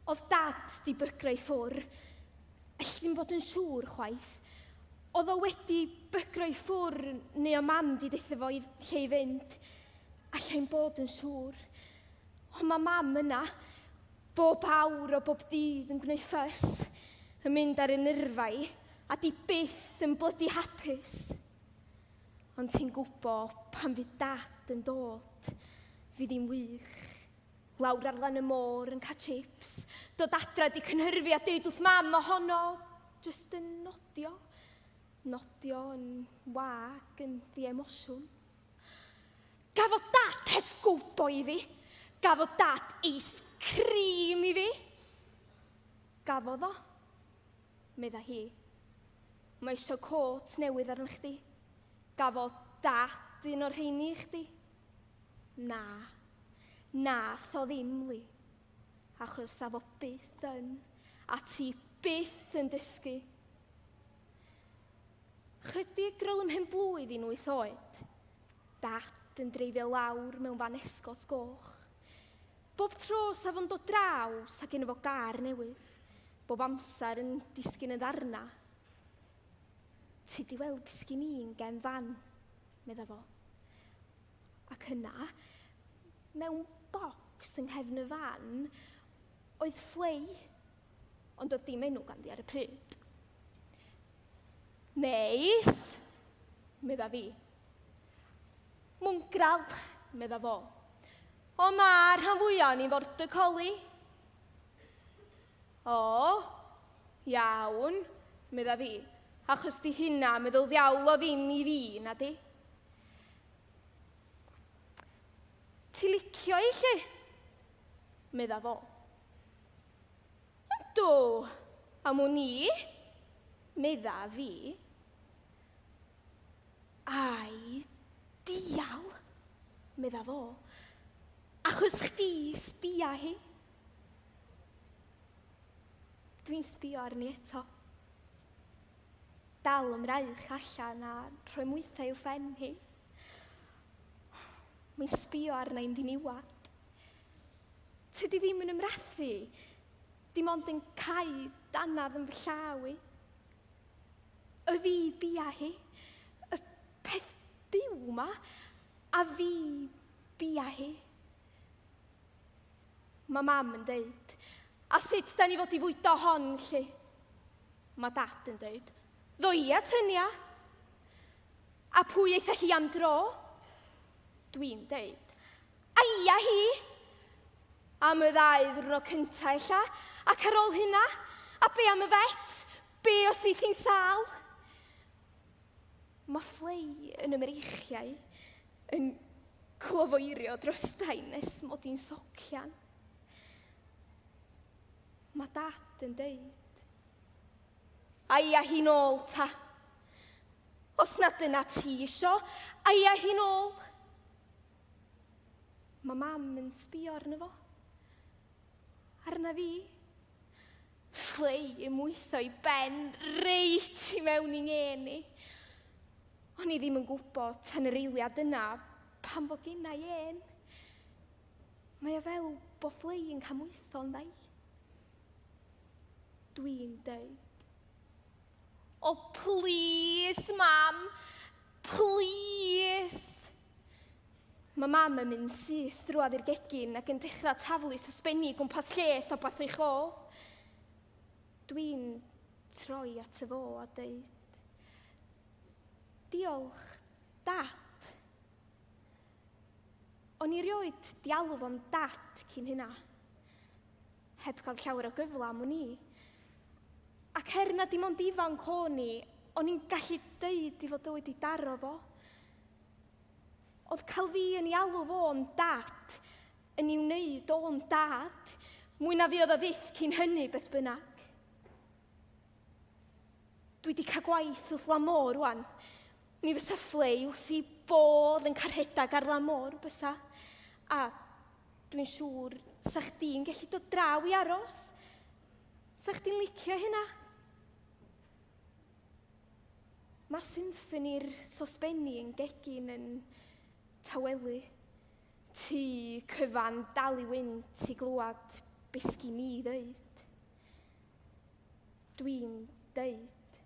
Oedd Dad 'di bygro i ffwr'. Elli di'm bod yn siŵr chwaith. Oedd o wedi bygro i ffwr' neu o Mam 'di deutha fo i lle i fynd. Alla i'm bod yn siŵr. Ond ma' Mam yna, bob awr o bob dydd yn gwneud ffys, yn mynd ar 'y nyrfa i, a 'di byth yn blydi hapus. Ond ti'n gwbo, pan fydd Dad yn dod, fydd hi'n wych. Lawr ar lan y môr yn cael chips, dod adra di cynhyrfu a deud wrth mam ohono, just yn nodio, nodio yn wag, yn ddiemosiwn. Gafodd dad het gwbo i fi, gafodd dad eis cream i fi. Gafodd o, medda hi. Mae eisiau côt newydd arna chdi. Gafodd dad un o'r rheini i chdi. Na, na, tho ddim, Li. Achos sa fo byth yn, a ti byth yn dysgu. Chydig grol ymhen blwydd i'n wyth oed, dad yn dreifio lawr mewn fan esgot goch. Bob tro sa fo'n dod draw, sa gen fo gar newydd. Bob amser yn disgyn yn ddarna. Ti di weld beth sgyn i'n gen fan? medda fo. Ac yna, mewn bocs yng nghefn y fan, oedd fflei, ond oedd dim enw ganddi ar y pryd. Neis, medda fi. Mwngral, medda fo. O mae rhan fwyaf o'n i'n fordacoli. O! Iawn, medda fi, achos di hynna meddwl ddiawl o ddim i fi, na di? Ti licio i lle? Medda fo. Yndw, am wn i, medda fi. Ai, dial, medda fo, achos chdi sbia hi. Dwi'n sbio arni eto. Dal yn fraich allan a rhoi mwythau i'w ffen hi. Mae'n sbio arna i'n ddiniwad. Tydi ddim yn ymrathu. Dim ond yn cael danad yn fy llaw i. Y fi bia hi. Y peth byw ma. A fi bia hi. Mae mam yn deud. A sut da ni fod i fwydo hon, lli? Mae dad yn deud. Ddo ia, tynia. A pwy eitha hi am dro? Dwi'n deud. A ia hi! Am y ddau ddwrnod cyntaf, ella, ac ar ôl hynna, a be am y fet? Be os eith hi'n sal? Mae fflei yn y mreichiau yn clofoeirio drostau nes mod i'n socian. Mae dad yn deud, Aia hi'n ôl ta. Os na dyna ti isio, aia hi'n ôl. Mae mam yn sbio arno fo. Arna fi. Fflei i mwyddo i ben reit i mewn i ngên i. O'n i ddim yn gwybod tan yr eiliad yna pan fo gynna i ên. Mae o fel bo fflei yn camwytho yn ddau. Dwi'n dweud. O, plis, mam! Plis! Mae mam yn mynd syth drwad i'r gegin ac yn dechrau taflu sosbenni gwmpas lle tho bath eich ôl. Dwi'n troi at y fo a dweud, Diolch, dad. O'n i rioed di alw fo'n dad cyn hynna. Heb cael llawer o gyfle am wn i. Ac her na dim ond ifanc o'n i, o'n i'n gallu deud i fod o wedi daro fo. Oedd cael fi yn ei alw fo'n dad yn i'w wneud o'n dad, mwy na fi oedd o fyth cyn hynny beth bynnag. Dwi wedi cael gwaith wrth lamo rwan. Mi fysa ffle i wrth i bodd yn carhedag ar lamor, bysa. A dwi'n siŵr sa chdi'n gallu dod draw i aros. Sa chdi'n licio hynna? Mae'r symffoni'r sosbenni yn gegin yn tawelu. Ty cyfan dal i wynt i glywed besgi mi ddeud. Dwi'n deud.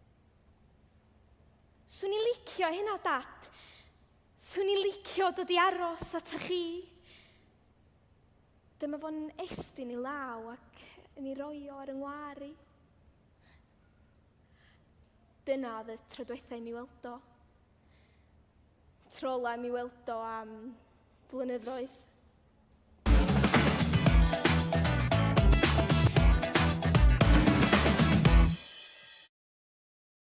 Swn i'n licio hynna, Dad. Swn i'n licio dod i aros at a chi. Dyma fo'n estyn i law ac yn ei roi o ar yng ngwar i. Dyna oedd y tro diwethaf i mi weld o. Tro ola mi weld o am flynyddoedd.